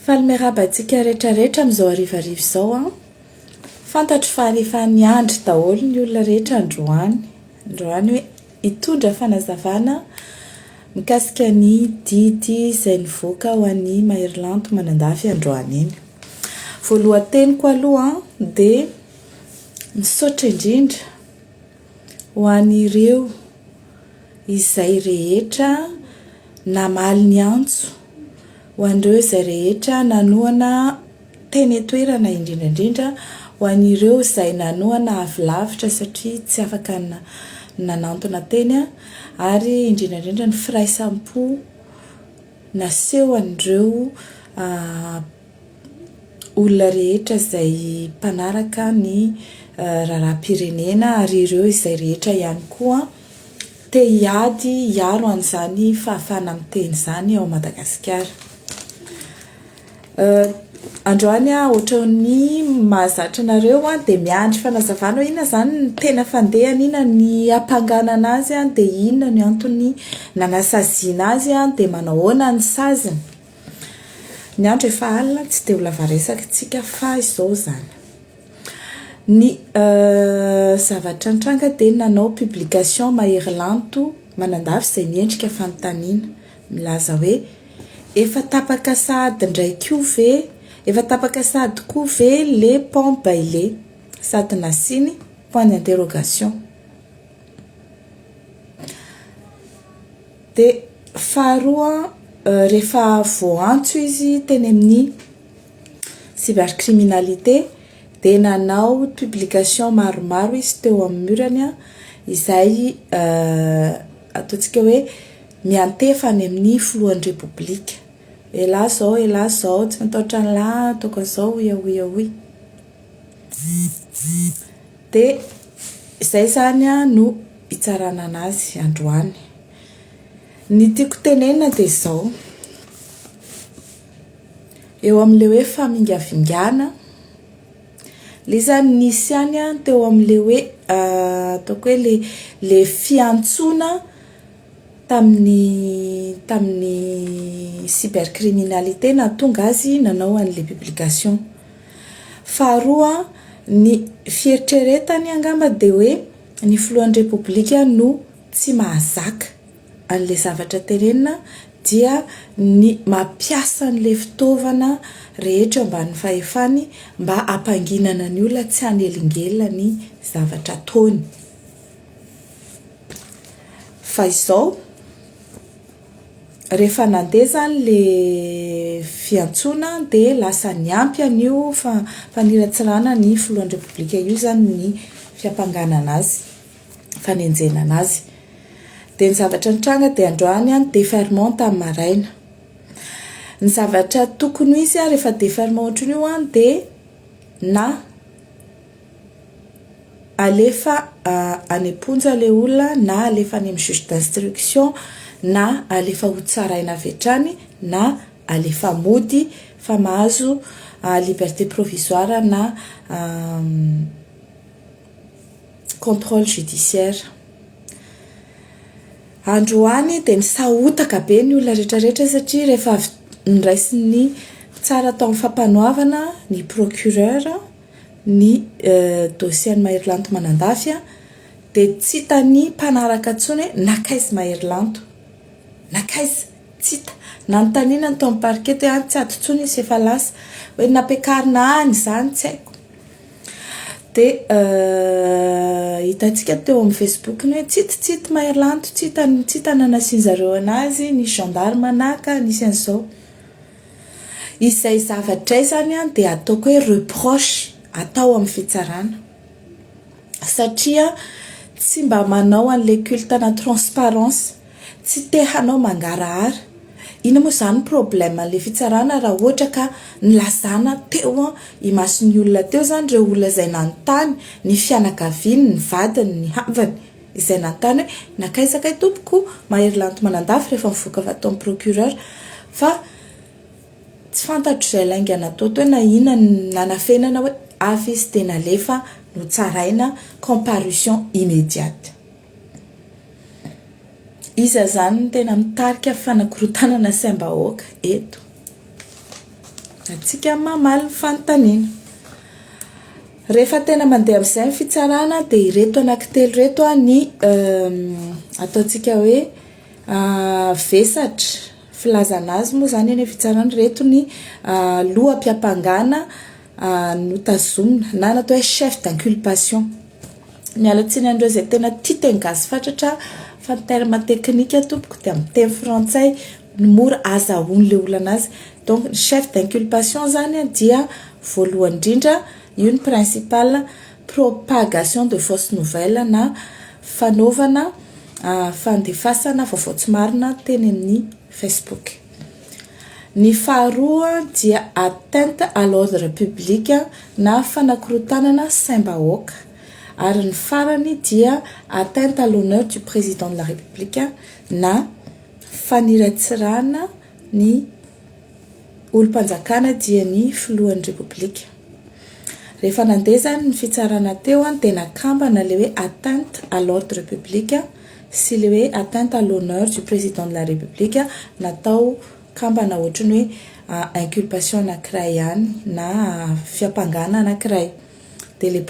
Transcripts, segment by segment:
Faly miarahaba antsika rehetra rehetra amin'izao harivariva izao an. Fantatro fa rehefa niandry daholo ny olona rehetra androany, androany hoe hitondra fanazavana mikasika ny didy izay nivoaka ho an'ny Maherylanto Manandafy androany iny. Voalohan-teniko aloha dia misaotra indrindra Ho an'ireo izay rehetra namaly ny antso, ho an'ireo izay rehetra nanohana teny an-toerana indrindra indrindra, ho an'ireo izay nanohana avy lavitra satria tsy afaka nanantona teny ary indrindra indrindra ny firaisampo naseho an'ireo olona rehetra izay mpanaraka ny raharaham-pirenena ary ireo izay rehetra ihany koa te hiady hiaro an'izany fahafahana miteny izany ao Madagasikara. Androany aho ohatran'ny mahazatra anareo dia miandry fanazavana hoe inona izany no tena fandehany, inona ny hampanganana azy dia inona ny antony nanasaziana azy dia manao ahoana ny saziny. Ny andro efa alina tsy dia ho lava resaka isika fa izao izany. Ny zavatra nitranga dia nanao publication mahery lanto manandafy izay miendrika fanontaniana milaza hoe efa tapaka sahady indray koa ve efa tapaka sahady koa ve le pont Bailey sady nasiany point d'interrogation. Dia faharoa rehefa voaantso izy teny amin'ny cybercriminalité dia nanao publication maromaro izy teo amin'ny murany izay ataontsika hoe miantefa any amin'ny filohan'ny repoblika, elah zao elah zao tsy matahotra an'lah ataoko an'zao hoy hoy hoy. Dia izay izany no hitsarana an'azy androany. Ny tiako tenenina dia izao, eo amin'ilay hoe famingavingana, ilay izy izany nisy ihany teo amin'ilay hoe ataoko hoe ilay ilay fiantsoana tamin'ny tamin'ny cybercriminalité nahatonga azy nanao an'ilay publication. Faharoa, ny fieritreretany angamba dia hoe ny filohan'ny Repoblika no tsy mahazaka an'ilay zavatra tenenina dia ny mampiasa an'ilay fitaovana rehetra eo ambanin'ny fahefany mba hampanginana ny olona tsy hanelingelina ny zavatra ataony. Fa izao. Rehefa nandeha izany ilay fiantsoana dia lasa niampy an'io faniratsirana ny filohan'ny Repoblika io izany ny fiampanganana azy, fanenjehana an'azy. Dia ny zavatra nitranga dia androany ny deferment tamin'ny maraina. Ny zavatra tokony ho izy rehefa deferment ohatran'io dia na. alefa any am-ponja ilay olona na alefa any amin'ny juge d'instruction na alefa ho tsaraina avy hatrany na alefa mody fa mahazo liberté provisoire na contrôle judiciaire. Androany dia misahotaka be ny olona rehetra rehetra satria rehefa avy noraisin'ny mpitsara tao amin'ny fampanoavana ny procureur, ny dossier an'i Maherilanto Manandafy dia tsy hitan'ny mpanaraka intsony hoe nankaiza i Maherilanto? nankaiza? tsy hita, nanontaniana ny tao amin'ny parquet dia any tsy ato intsony izy efa lasa, hoe nampiakarina any izany tsy haiko, dia hitantsika teo amin'ny facebook-ny hoe tsy hita tsy hita i Maherilanto, tsy hita, tsy hita ny nanasian'izareo an'azy, nisy gendarme naka, nisy an'izao. Izay zavatra izany dia ataoko hoe reproche atao amin'ny fitsarana satria tsy mba manao an'ilay culte ana transparence, tsy te hanao mangarahara, inona moa izany problème an'ilay fitsarana raha ohatra ka nilazana teo imason'ny olona teo izany ireo olona izay nanontany, ny fianakaviany, ny vadiny, ny havany. izay nanontany hoe, Nankaiza kay tompoko Mahery Lanto Manandafy rehefa nivoaka avy ato amin'ny procureur fa tsy fantatro izay lainga natao teo na inona no nanafenana hoe hafa izy dia nalefa notsaraina comparution immediate. Iza izany no tena mitarika fanakorontanana saim-bahoaka eto? Antsika mamaly ny fanontaniana. Rehefa tena mandeha amin'izay ny fitsarana dia ireto anankitelo ireto ny ataontsika hoe vesatra filazana azy moa izany eny amin'ny fitsarana, ireto ny loham-piampangana notazomina na ny atao hoe chef d'inculpation. Miala tsiny an'ireo izay tena tia teny gasy fatratra fa ny terme teknika tompoko dia amin'ny teny frantsay. ny mora azahoany le olana azy donc ny chef d'inculpation zany a dia voalohany indrindra io ny principal propagation de fausse nouvelle na fanaovana fandefasana vaovao tsy marina teny amin'ny facebook ny faharoa dia atteinte à l'ordre public na fanakorotanana saim-bahoaka ary ny farany dia atteinte à l'honneur du président de la république na Faniratsirana ny olom-panjakana dia ny filohan'ny Repoblika. Rehefa nandeha izany ny fitsarana teo dia tena kambana ilay hoe atteinte à l'ordre public sy ilay hoe atteinte à l'honneur du Président de la République natao kambana ohatran'ny hoe inculpation anankiray ihany na fiampangana anankiray. Dia ilay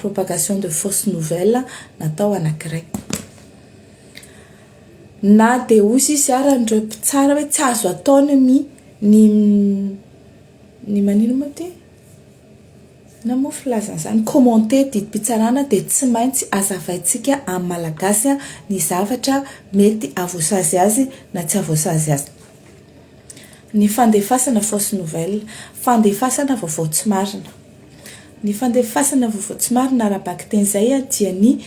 propagation de fausse nouvelle natao anankiray. Na dia hoy sisa ary ireo mpitsara hoe tsy azo atao ny mi, ny, ny manino moa ity? Inona moa filazana izany? Commenter didim-pitsarana dia tsy maintsy azavaintsika amin'ny Malagasy ny zavatra mety hahavoasazy azy na tsy hahavoasazy azy. Ny fandefasana fausse nouvelle, fandefasana vaovao tsy marina. Ny fandefasana vaovao tsy marina ara-bakiteny izay dia ny.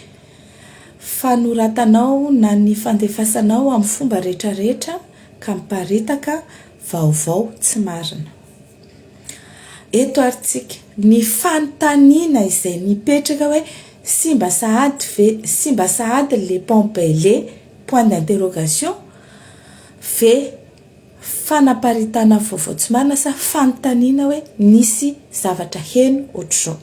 Fanoratanao na ny fandefasanao amin'ny fomba rehetrarehetra ka miparitaka vaovao tsy marina. Eto ary tsika, ny fanontaniana izay mipetraka hoe simba sahady ve, simba sahady le pompe le, point d'interrogation, ve fanaparitahana vaovao tsy marina sa fanontaniana hoe nisy zavatra heno ohatr'izao.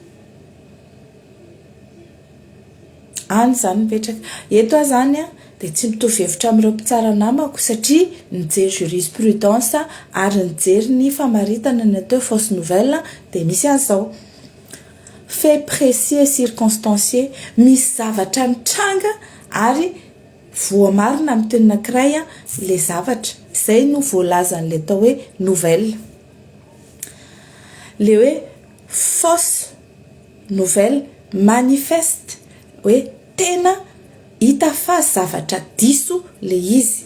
Any izany mipetraka. Eto aho izany an, dia tsy mitovy hevitra amin'ireo mpitsara namako satria nijery jurisprudence ary nijery ny famaritana ny atao hoe fausse nouvelle dia misy an'izao. Fait précis et circonstancié. Misy zavatra nitranga ary voamarina amin'ny teny anankiray ilay zavatra. Izay no voalazan'ilay atao hoe nouvelle. Ilay hoe fausse. nouvelle manifeste hoe tena hita fa zavatra diso le izy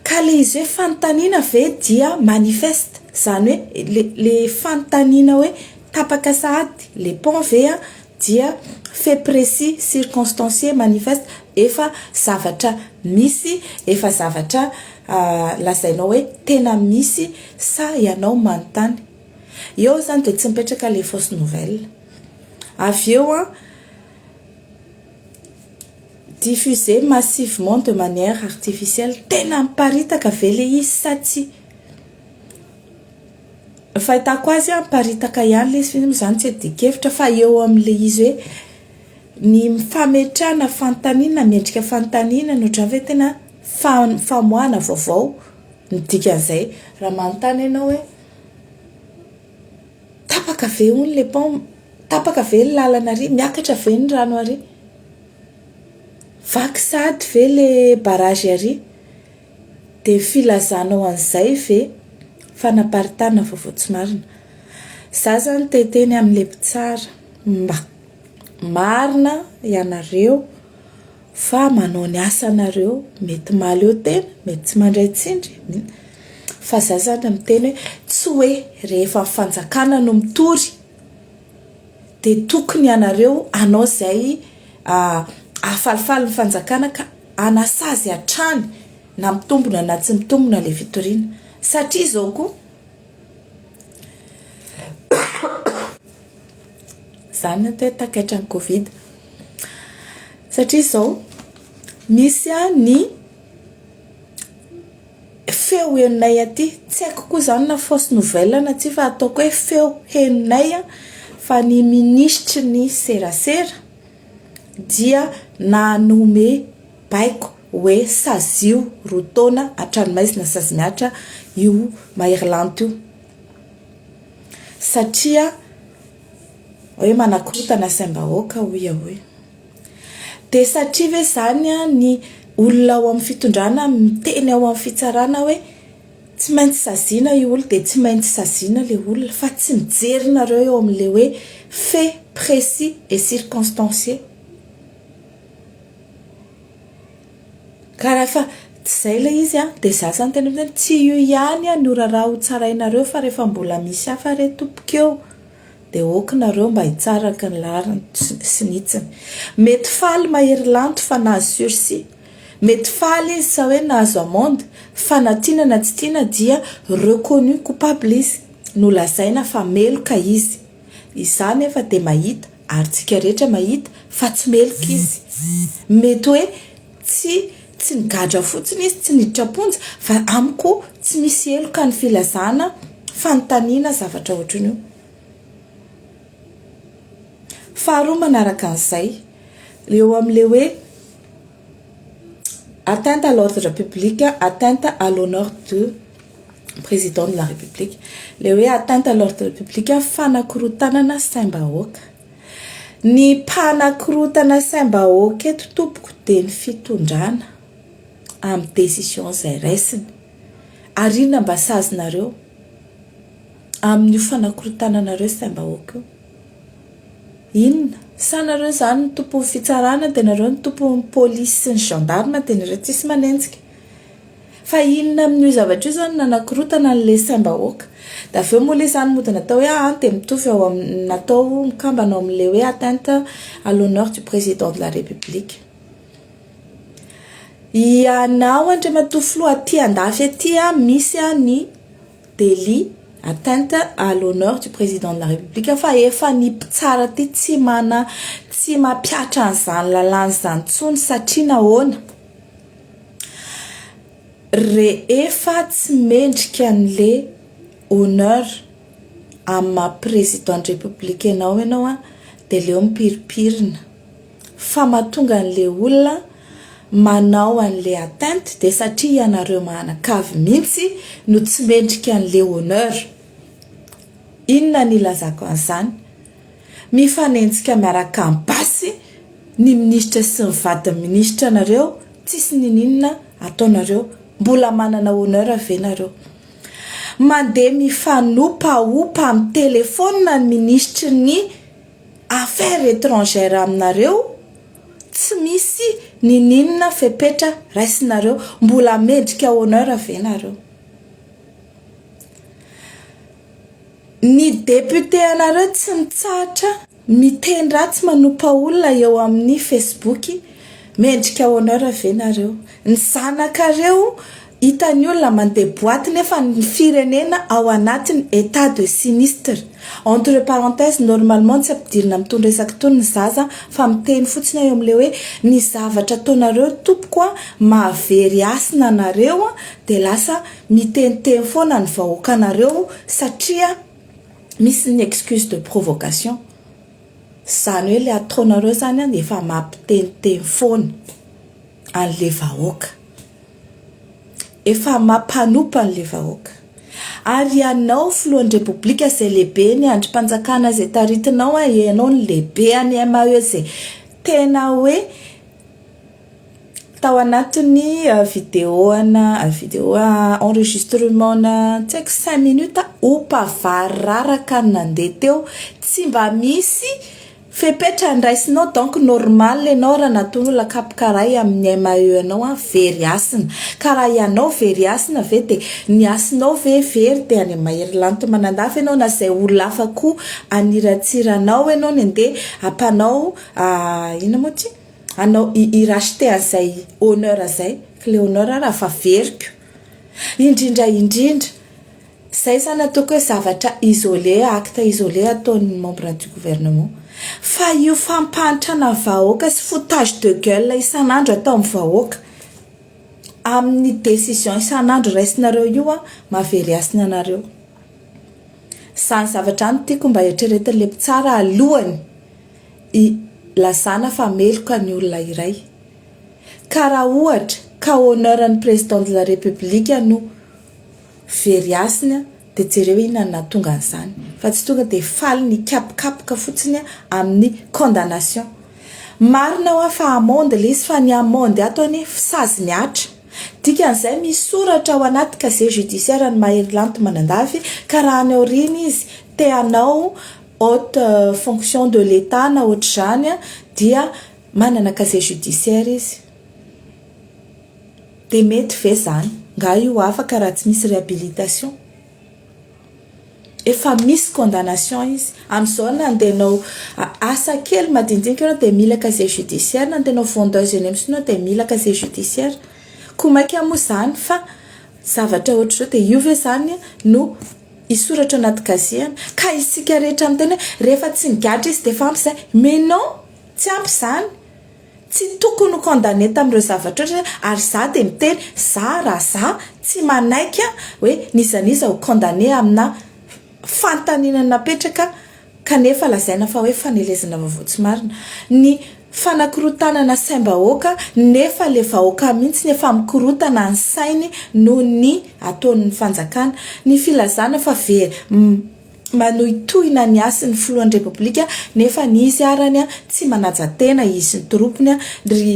ka le izy hoe fanontaniana ve dia manifeste zany hoe le le fanontaniana hoe tapaka sahady le pont ve a dia fait précis circonstancier manifeste efa zavatra misy efa zavatra lazainao hoe tena misy sa ianao manontany Eo zany dia tsy mipetraka ilay fausse nouvelle. Avy eo an, diffuser massivement de manière artificielle, tena miparitaka ve ilay izy sa tsia? Ny fahitako azy an, miparitaka ihany ilay izy f'iny moa zany tsy adin-kevitra fa eo amin'ilay izy hoe ny fametrahana fanontaniana, miendrika fanontaniana no ohatran'ny hoe tena famoahana vaovao ny dikan'izay. Raha manontany ianao hoe. Tapaka ve hono ilay pont? Tapaka ve ny lalana ary? Miakatra ve ny rano ary? Vaky sahady ve ilay barrage ary? Dia filazanao an'izay ve fanaparitahana vaovao tsy marina? Izaho izany te hiteny amin'ilay mpitsara mba marina ianareo. Fa manao ny asanareo, mety mahaleo tena, mety tsy mandray tsindry, fa za zany miteny hoe tsy hoe rehefa ny fanjakana no mitory dia tokony ianareo hanao izay hahafalifaly ny fanjakana ka hanasazy hatrany na mitombina na tsy mitombina ilay fitoriana satria izao koa Izany no atao hoe takaitra ny covid. Satria izao, misy ny feo henonay aty, tsy haiko koa izany na fausse nouvelle na tsia fa ataoko hoe feo henonay fa ny minisitry ny serasera dia nanome baiko hoe sazio roa taona hatrany maizina sazy mihatra io maherilanty io. satria hoe manakorotana saim-bahoaka hoy aho e, dia satria ve izany ny olona ao amin'ny fitondrana miteny ao amin'ny fitsarana hoe tsy maintsy saziana io olona dia tsy maintsy saziana ilay olona fa tsy mijery nareo eo amin'ilay hoe fait précis et circonstancier. Ka rehefa tsy izay ilay izy an, dia za zany tena hoe tsy io ihany an no raharaha ho tsarainareo fa rehefa mbola misy hafa re tompoko eo dia ok nareo mba hitsaraka ny laharany sy ny hitsiny. Mety faly mahery lanto fa nahazo sursis, mety faly izy sa hoe nahazo amende fa na tiana na tsy tiana dia reconnu coupable izy, nolazaina fa meloka izy. Izaho anefa dia mahita, ary tsika rehetra mahita, fa tsy meloka izy. Mety hoe tsy tsy nigadra fotsiny izy, tsy niditra am-ponja, fa amiko tsy misy heloka ny filazana fanontaniana zavatra ohatran'io. Faharoa manaraka an'izay, eo amin'ilay hoe. atteinte à l'ordre public, atteinte à l'honneur de président de la république, ilay hoe atteinte à l'ordre public, fanakorontanana saim-bahoaka, ny mpanakorontana saim-bahoaka eto tompoko dia ny fitondrana amin'ny décision izay raisiny, ary inona mba sazinareo amin'io fanakorontananareo saim-bahoaka io? Inona? Sa nareo izany no tompon'ny fitsarana dia nareo no tompon'ny polisy sy ny gendarme dia nareo tsisy manenjika? Fa inona amin'io zavatra io izany no nanakorontana an'ilay saim-bahoaka? Dia avy eo moa ilay izany mody natao hoe an dia mitovy ao amin'ny natao mikambana ao amin'ilay hoe atteinte à l'honneur du président de la république. Ianao Andriamatoa Filoha aty andafy aty misy ny Délit, atteinte à l'honneur du Président de la République, fa efa ny mpitsara aty tsy mana, tsy mampihatra an'izany lalàna izany intsony satria nahoana? rehefa tsy mendrika an'le honneur amin'ny maha président de république anao ianao dia aleo mipiripirina. fa matonga anle olona manao anle atteinte de satria ianareo mahanakavy mintsy no tsy mendrika anle honneur inona ny ilazako anzany mifanenjika miaraka am basy ny ministra sy ny vadiny ministra nareo tsisy nininona ataonareo mbola manana honneur ve nareo mande mifanopaopa am telephone ny ministry ny affaires etrangères aminareo tsy misy nininona fepetra raisinareo mbola mendrika honneur ve nareo ny député anareo tsy mitsahatra miteny ratsy manompa olona eo amin'ny facebook mendrika honneur ve nareo Ny zanakareo hitan'ny olona mandeha boite nefa ny firenena ao anatin'ny etat de sinistre. Entre parenthèses, normalement tsy ampidirina amin'itony resaka itony ny zaza fa miteny fotsiny aho eo amin'ilay hoe ny zavatra ataonareo tompoko an, mahavery hasina anareo an, dia lasa miteniteny foana ny vahoakanareo satria misy ny excuse de provocation. Izany hoe ilay ataonareo izany an dia efa mampiteniteny foana. anle vahoaka. Efa mapanompa anle vahoaka. Ary ianao filohanrepoblika izay lehibe ny andrimpanjakana izay taritinao a ianao no lehibe any MAE izay tena hoe tao anatin'ny video ana video enregistrement na tsy haiko cinq minutes opa vary raraka no nandeha teo tsy mba misy Fepetra andraisinao donc normal enao raha natono olona kapoka ray amin'ny MAE anao an very hasina ka raha ianao very hasina ve dia ny hasinao ve very dia any mahery lanto manandafy enao na zay olona hafa koa haniratsira anao enao ny andeha hampanao inona moa ty hanao hi racheter an'izay honneur zay kle honneur raha fa veriko indrindra indrindra Zay zany ataoko hoe zavatra isolé, acte isolé ataon'ny membres du gouvernement. Fa io fampahantrana vahoaka sy foutage de gueule isan'andro ataon'ny vahoaka amin'ny décision isan'andro raisinareo io an, mahavery hasina anareo. Zany zavatra zany tiako mba eritreretin'ilay mpitsara alohany hilazana fa meloka ny olona iray. Ka raha ohatra ka honneur an'ny président de la république no Very hasina dia jereo inona no nahatonga an'izany fa tsy tonga dia faly nikapokapoka fotsiny amin'ny condamnation. Marina hoa fa amende ilay izy fa ny amende ato anie sazy mihatra. Dikan'izay misy soratra ao anaty casier judiciaire ny Mahery Lanto Manandafy ka raha any aoriana izy te hanao haute fonction de l'Etat na ohatr'izany dia manana casier judiciaire izy. Dia mety ve zany? Nga io afaka raha tsy misy réhabilitation? Efa misy condamnation izy. Amizao na andeha hanao asa kely madinidinika ianao dia mila casier judiciaire, na andeha hanao vendeuse eny amin'ny sinoa dia mila casier judiciaire. Koa maika moa zany fa zavatra ohatr'izao dia io ve zany no hisoratra ao anaty casier? Ka isika rehetra miteny hoe rehefa tsy nigadra izy dia efa ampy izay. Mais non! Tsy ampy izany. Tsy tokony ho condamné tamin'ireo zavatra ireo izy hoe ary za dia miteny za raha za tsy manaiky an hoe n'iza n'iza ho condamné amina fanontaniana napetraka kanefa lazaina fa hoe fanelezana vaovao tsy marina. Ny fanakorotanana saim-bahoaka nefa le vahoaka mihitsy efa mikorotana ny sainy noho ny ataon'ny fanjakana. Ny filazana fa very. manohitohina ny hasin'ny filohan'ny Repoblika nefa ny izy arany tsy manaja tena izy sy ny toropony, ry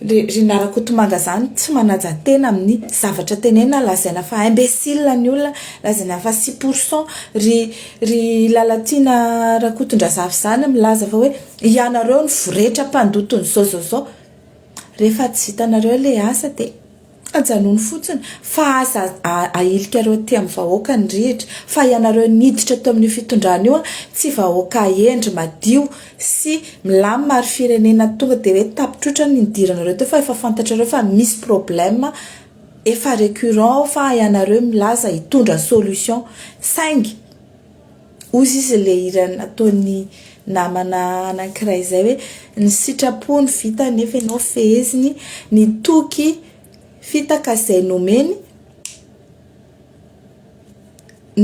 ry narakotomanga zany tsy manaja tena amin'ny zavatra tenenina lazaina fa imbecile ny olona lazaina fa six pour cent, ry ry Lalatiana Rakotondrazafy zany milaza fa hoe ianareo no voretra mpandoto ny zao zao zao, rehefa tsy vitanareo le asa dia. Ajanony fotsiny fa aza ahilika ireo aty amin'ny vahoaka ny rihitra fa ianareo niditra teo amin'io fitondrana io tsy vahoaka hendry madio sy milamina ary firenena tonga dia hoe tapitroitra ny nidiranareo teo fa efa fantatrareo fa misy problème efa récurrent ao fa ianareo milaza hitondra solution saingy Hozy izy ilay hira nataon'ny namana anankiray izay hoe ny sitrapo no vitany nefa ianao feheziny, ny toky fitaka izay nomeny,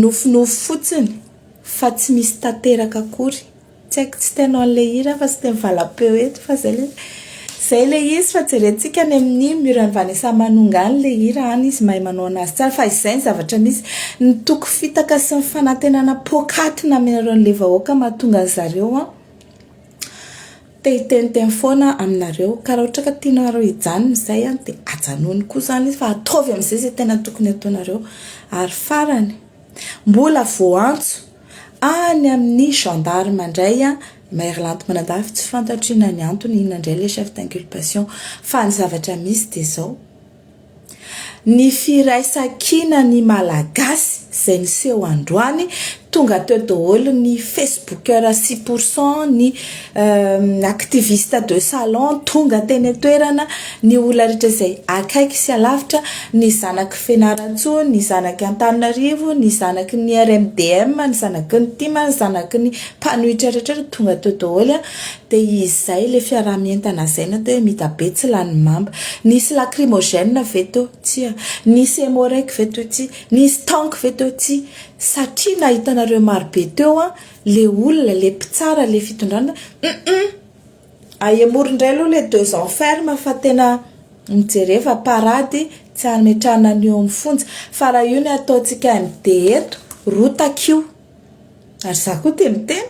nofinofy fotsiny fa tsy misy tanteraka akory. Tsy haiko tsy teno an'ilay hira aho fa tsy teny valam-peo eto fa izay ilay izay ilay izy fa jerentsika any amin'ny mur an'i Vanessa Manonga any ilay hira any izy mahay manao an'azy tsara fa izay ny zavatra misy ny toky fitaka sy ny fanantenana poakaty nameran'ireo an'ilay vahoaka mahatonga an'i zareo an te hiteniteny foana aminareo ka raha ohatra ka tianareo hijanona izay an dia ajanony koa izany izy fa ataovy amin'izay izay tena tokony ataonareo ary farany mbola voantso Any amin'ny gendarme indray an, Mairlanty Manandafy tsy fantatro inona ny antony, inona indray ilay chef d'inculpation fa ny zavatra misy dia izao, ny firaisan-kina ny Malagasy izay niseho androany, tonga teo daholo ny facebookers sy pour cent ny activiste de salon tonga teny an-toerana, ny olona rehetra izay akaiky sy alavitra, ny zanaky Fianarantsoa, ny zanaky Antananarivo, ny zanaky ny RMDM, ny zanaky ny tim, ny zanaky ny mpanohitra rehetra tonga teo daholo dia izay ilay fiaraha-mientana izay na dia hoe Midabe tsy lany mamba. Nisy lacrymogène ve teo? Tsia. Nisy emorek ve teo? Tsia. Nisy tanky ve teo? Tsia. Satria nahitanareo marobe teo an! Le olona le mpitsara le fitondrana humm ahemory indray aloha le deux ans ferme fa tena mijereva parady tsy ametrahana ny eo amin'ny fonja fa raha io ny ataontsika MD eto rotaka io ary za koa dia miteny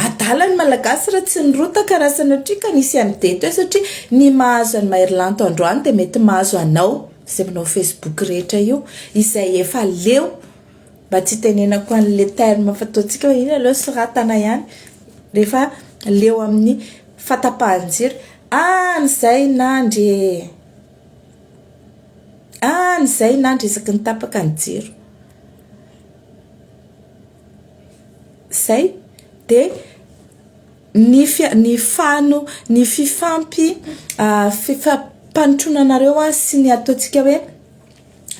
adala ny malagasy raha tsy nirotaka raha sanatria ka nisy MD teo satria ny mahazo an'i Maherilanto androany dia mety mahazo anao izay manao facebook rehetra io izay efa leo Mba tsy hitenenako an'ilay terme fataontsika hoe inona ilay soratana ihany rehefa leo amin'ny fatapahan-jiro. Any izay nandry e! Any izay nandry isaky ny tapaka ny jiro. Izay. Dia ny fia- ny fano- ny fifampi- fifampanotronanareo sy ny ataontsika hoe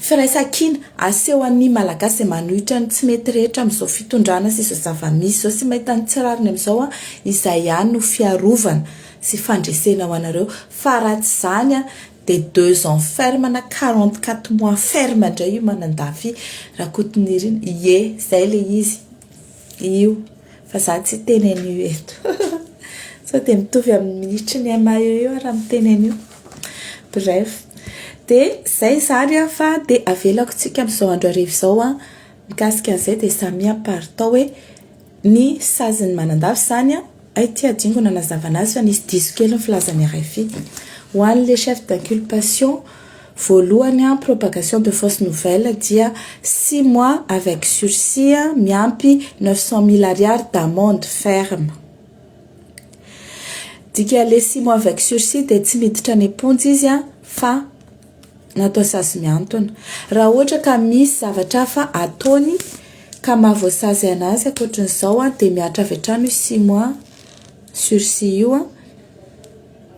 Firaisankina, asehon'ny Malagasy izay manohitra ny tsy mety rehetra amin'izao fitondrana sy izao zava-misy izao sy mahita ny tsy rariny amin'izao an, izay ihany no fiarovana sy fandresena ho anareo fa raha tsy izany an dia deux ans ferme na quarante quatre mois ferme indray io Manandafy Rakotonirina, ie, izay ilay izy. Io fa za tsy hiteny an'io eto sao dia mitovy amin'ny minitry ny MAE eo aho raha miteny an'io. Bref, dia izay izany an fa dia avelako tsika amin'izao andro hariva izao an, mikasika an'izay dia samia par tao hoe ny sazin'ny manandafy izany an. Hay ty Adingo nanazava anazy fa nisy diso kely ny filazan'i rfi. Ho an'ny le chef d'inculpation voalohany an, propagation de fausse nouvelle dia six mois avec sursis an, miampy neuf cent mille ariary d'amende ferme. Dika le six mois avec sursis dia tsy miditra any am-ponja izy an fa. natao sazy miantona. Raha ohatra ka misy zavatra hafa ataony ka maha voasazy anazy ankoatran'izao an, dia mihatra avy hatrany io six mois sursis io an,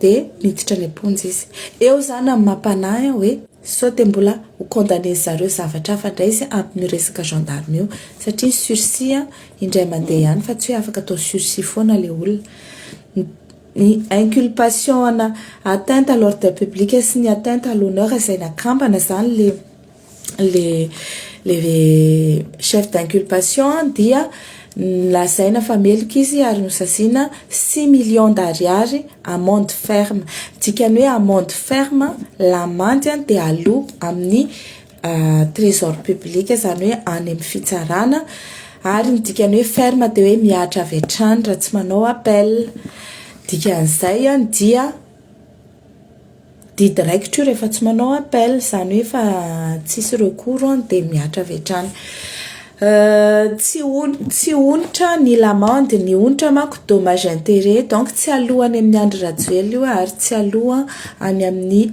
dia miditra any am-ponja izy. Eo izany amin'ny maha mpanahy ahy hoe sao dia mbola ho condamner-dry zareo zavatra hafa indray izy amin'ny resaka gendarme io, satria ny sursis indray mandeha ihany fa tsy hoe afaka atao sursis foana ilay olona. Ny inculpation ana atteinte à l'ordre public sy ny atteinte à l'honneur izay nakambana izany le le le chef d'inculpation dia lazaina fa meloka izy ary nosaziana six millions d'ariary amende ferme, ny dikan'ny hoe amende ferme lamandy dia aloa amin'ny trésor public izany hoe any amin'ny fitsarana ary ny dikany hoe ferme dia hoe mihatra avy hatrany raha tsy manao appel dikan'izay any dia didy raikitra io rehefa tsy manao appel izany hoe efa tsisy recours any dia mihatra avy hatrany tsy on- tsy onitra ny lamandy ny onitra manko dommage interet donc tsy aloa any amin'ny Andry Rajoelina io ary tsy aloa any amin'ny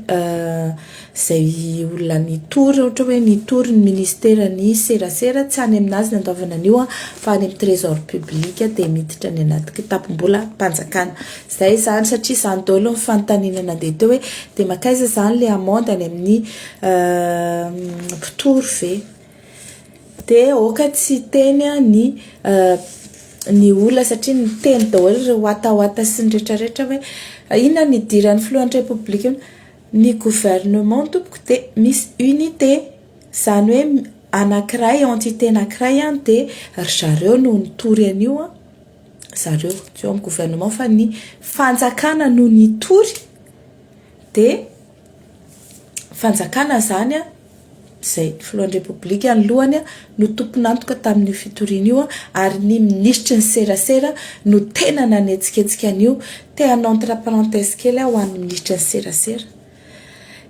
Izay olona nitory, ohatra hoe nitory ny ministeran'ny serasera, tsy any amin'azy ny andoavana an'io an, fa any amin'ny trésor public dia miditra any anaty kitapom-bolam-panjakana. Izay izany satria izany daholo ny fanontaniana nandeha teo hoe dia mankaiza izany ilay amende any amin'ny mpitory ve? Dia aoka tsy hiteny ny ny olona satria niteny daholo ireo watawata sy ny retraretra hoe inona no hidiran'ny filohan'ny repoblika eo? Ny gouvernement tompoko dia misy unité, izany hoe anakiray entité anakiray an dia ry zareo no nitory an'io an, zareo tsy eo amin'ny gouvernement fa ny fanjakana no nitory dia fanjakana izany an, izay filohan'ny Repoblika alohany no tompon'antoka tamin'io fitoriana io ary ny minisitry ny serasera no tena nanetsiketsika an'io. Te hanao entre parenthèse kely aho ho an'ny minisitry ny serasera.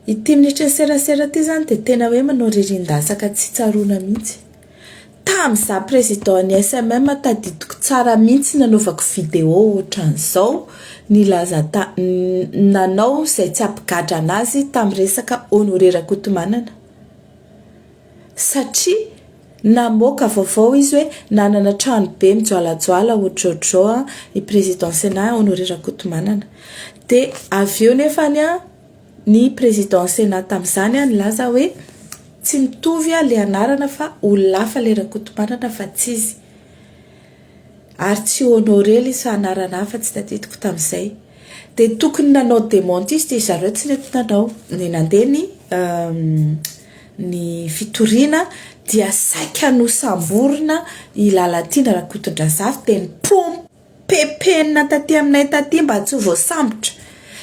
Ity minisitry ny serasera ity izany dia tena hoe manao ririndatsaka tsy tsaroana mihitsy. Tam za président ny SMM tadidiko tsara mintsy nanaovako vidéo otran'izao nilaza ta nanao zay tsy ampigadra anazy tam resaka Honoré Rakotomanana satria namoaka vaovao izy hoe nanana trano be mijoalajoala otrotro i président Sénat Honoré Rakotomanana de avy eo nefany a Ny président Sénat tamin'izany nilaza hoe tsy mitovy ilay anarana fa olona hafa ilay Rakotomanana fa tsy izy. Ary tsy honoré ilay sa anarana hafa tsy tadidiko tamin'izay. Dia tokony nanao démenti izy dia ry zareo tsy nety nanao. Dia nandeha ny ny fitoriana dia saika nosamborina i Lalatiana Rakotondrazafy dia nipompaka. Pepenina taty aminay taty mba tsy ho voasambotra.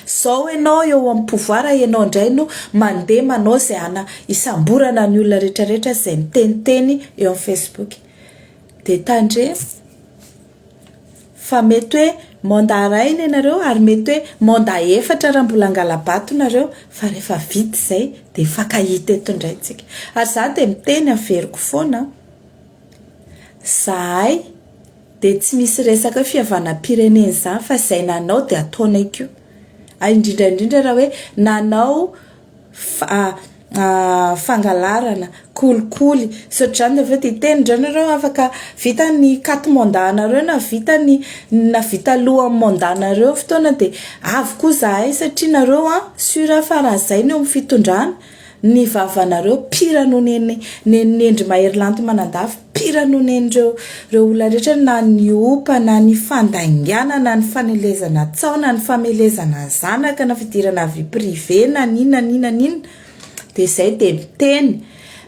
Zao enao eo amin'ny pouvoir enao indray no mandeha manao izay ana hisamborana ny olona rehetra rehetra izay miteniteny eo amin'ny facebook. Dia tandremo fa mety hoe mandat iray ny anareo ary mety hoe mandat efatra raha mbola angalabato nareo fa rehefa vita izay dia fakahita eto indray isika. Ary za dia miteny averiko foana an! Zahay. Dia tsy misy resaka hoe fihavanam-pirenena izany fa izay nanao dia ataonay koa. Ary indrindra indrindra raha hoe nanao fangalarana, kolikoly sy ohatr'izany dia avy eo dia hiteny indray nareo afaka vita ny carte mandat-nareo na vita ny na vita alohan'ny mandat-nareo ny fotoana dia avy koa izahay satria nareo an, sur fa raha izay no eo amin'ny fitondrana. Ny vavanareo pire noho ny an'ny nenindry mahery lanto manandafy, pire noho ny an'ireo ireo olona rehetra na ny opa na ny fandaingana na ny fanelezana tsaho na ny famelezana zanaka na fidirana vie privée na n'inona n'inona n'inona dia izay dia miteny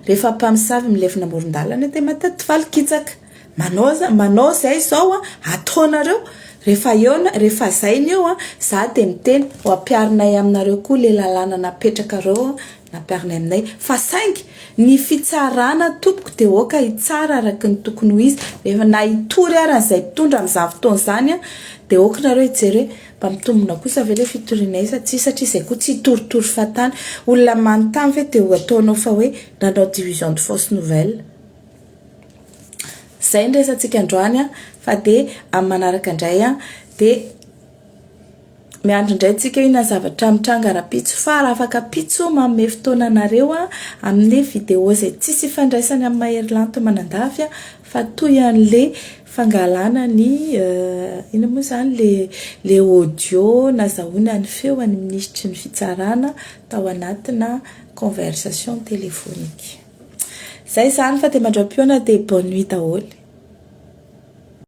rehefa mpamosavy milefona amoron-dalana dia mahatadivaly kitsaka. Manao aza manao izay izao an, ataonareo rehefa eo na rehefa izay ny eo an, za dia miteny ho ampiharinay aminareo koa le lalàna napetrakareo an, nampiharinay aminay fa saingy ny fitsarana tompoko dia aoka hitsara araka ny tokony ho izy rehefa na hitory ary izay mpitondra amin'izany fotoana izany an, dia aoka nareo hijery hoe mba mitombina kosa ve le fitorianay sa tsia satria izay koa tsy hitoritory fahatany, olona manontany ve dia ho ataonao fa hoe nanao division de fausse nouvelle. Izay ny resatsika androany an, fa dia amin'ny manaraka indray an, dia miandry indray tsika inona zavatra mitranga rahampitso fa raha afaka ampitso manome fotoana anareo an, amin'ny vidéo izay tsisy ifandraisany amin'ny mahery lanto manandafy an, fa toy an'ilay fangalana ny inona moa izany ilay ilay audio nazahoana ny feo an'ny minisitry ny fitsarana tao anatina conversation téléphonique. Zay zany fa de mandram-pihaona de bonne nuit daholo.